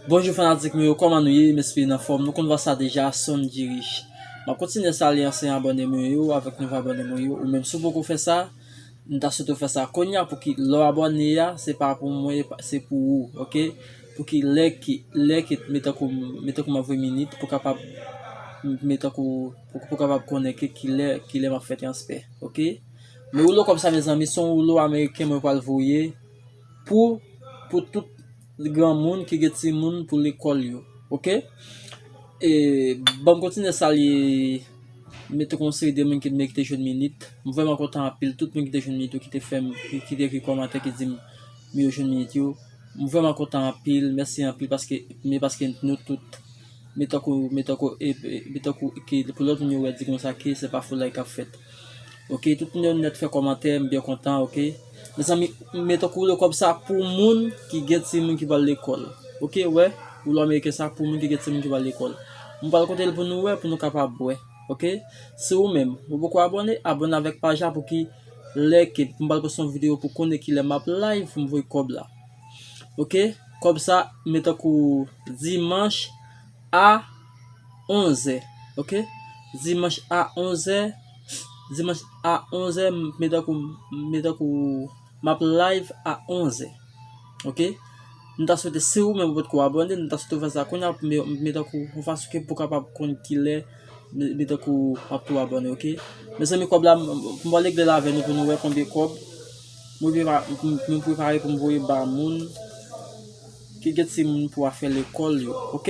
Bonjou fanatik mwen yo kòman nou ye m espere n anfòm nou konn vwa sa deja son n diri m ap kontinye salye ansyen abòne mwen yo avèk nouvo abòne mwen yo ou menm si w poko fè sa m ta swete w fè sa kounye a pouki lè w abòne a se pa pou mwen se pou ou ok pouki lè ki lè ki me tankou me tankou m ap voye minit pou kapab me tankou pou kapab konnen ke ki lè ki lè m ap fè transfè ok me woulo kòb sa mezanmi se yon woulo ameriken mwen pral voye Pou pou tout granmoun ki gen timoun pou lekòl yo ok e banm kontinye salye mete kon seri de moun ki mwen kite jwenn minit m vrèman kontan anpil tout moun kite jwenn minit yo kite fèm ki te ekri kòmantè ki dim m yo jwenn minit yo m vrèman kontan anpil mèsi anpil paske mè paske nou tout mè tankou mè tankou e mè tankou ki pou lòt moun yo wè di konsa ki se pa foulay kap fèt ok tout moun yo nèt fè kòmantè m byen kontan ok. Mezanmi met on koulè kob sa pou moun ki gen timoun ki pral lekol ok wè koulè ameriken sa pou moun ki gen timoun ki pral lekol mwen pral kotel pou nou wè pou nou kapab wè ok si ou menm ou poko abone abone avek paj la pouki lè ke mwen pral poste yon video pou konnen kilè map live pou m voye kob la ok kob sa met tankou dimanche a 11 è ok dimanche a 11 è Dimanch a 11 zè m mete tankou m mete tankou m ap live a 11 zè ok m ta swete si ou menm ou potko abòne m ta swete ou fè sa kounya pou m mete tankou yon fason ke pou w kapab konn kilè m mete tankou m ap tou abòne ok mezanmi kòb la m pral regle l avè nou pou nou wè konbyen kòb mwen prepare pou m voye ba moun ki gen timoun pou afè lekòl yo ok.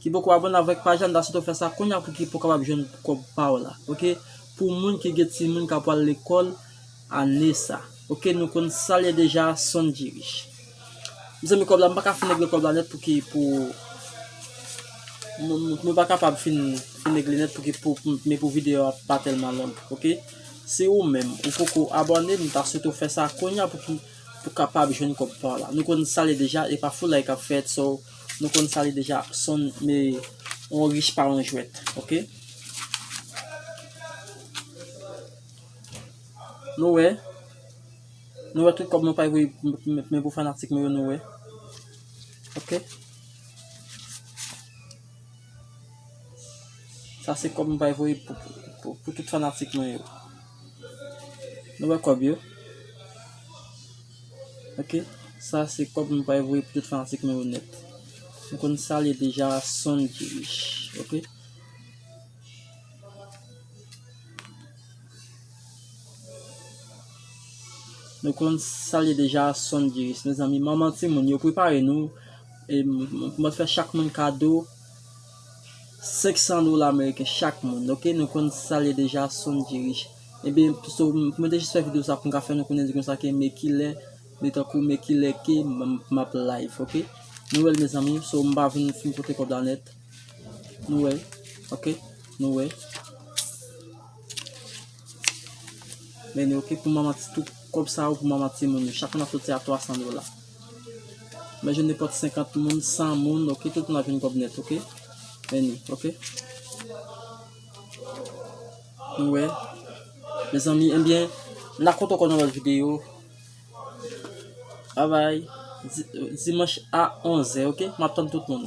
Ki poko abone avek paj la m ta swete w fè sa kounya pou ki pou kapab jwenn kob paw la ok pou moun ki gen timoun ka pwal lekol ane sa ok nou konn sal ye deja son dirish mezanmi kob la m paka fin regle kob la net pou ki pou mwen pa kapab fin fin regle net pou ki pou men pou video a pa telman long ok si ou menm ou poko abone m ta swete w fè sa kounya pou ki pou kapab jwenn kob paw la nou konn sal ye deja epa foulay kap fèt so. Nou konn sa li deja son me on rich pa on jwèt ok Nou wè Nou wè tout kòb nou pay voye men pou fanatik nou yo nou wè ok Sa se kòb m bay voye pou tout fanatik mwen yo Nou wè kòb yo. Ok sa se kob nou pral voye pou tout fanatik nou yo nèt nou konn sal ye deja son ki rich ok. Nou konn sal ye deja son ki rich mezanmi manman timoun yo prepare nou mwen fè chak moun kado. 500 dola ameriken chak moun ok nou konn sal ye deja son djirich ebyen so mwen te jis fè video sa poum ka fè nou konnen di konsa ke me kilè me tankou me kilè ke map live ok nou wèl mezanmi so m pa vin fin pote kob la nèt nou wè ok nou wè meni ok pou manman ti tou kob sa yo pou manman timoun yo chak moun ap soti a 300 dola. Men je nepòt 50 moun, 100 moun ok, tout moun ap jwenn kòb nèt ok. Any ok. Nou wè. Mezanmi enbyen, n a kontan kon nan lòt videyo. Bye bye. Dimanch a 11 è ok. M ap tann tout moun.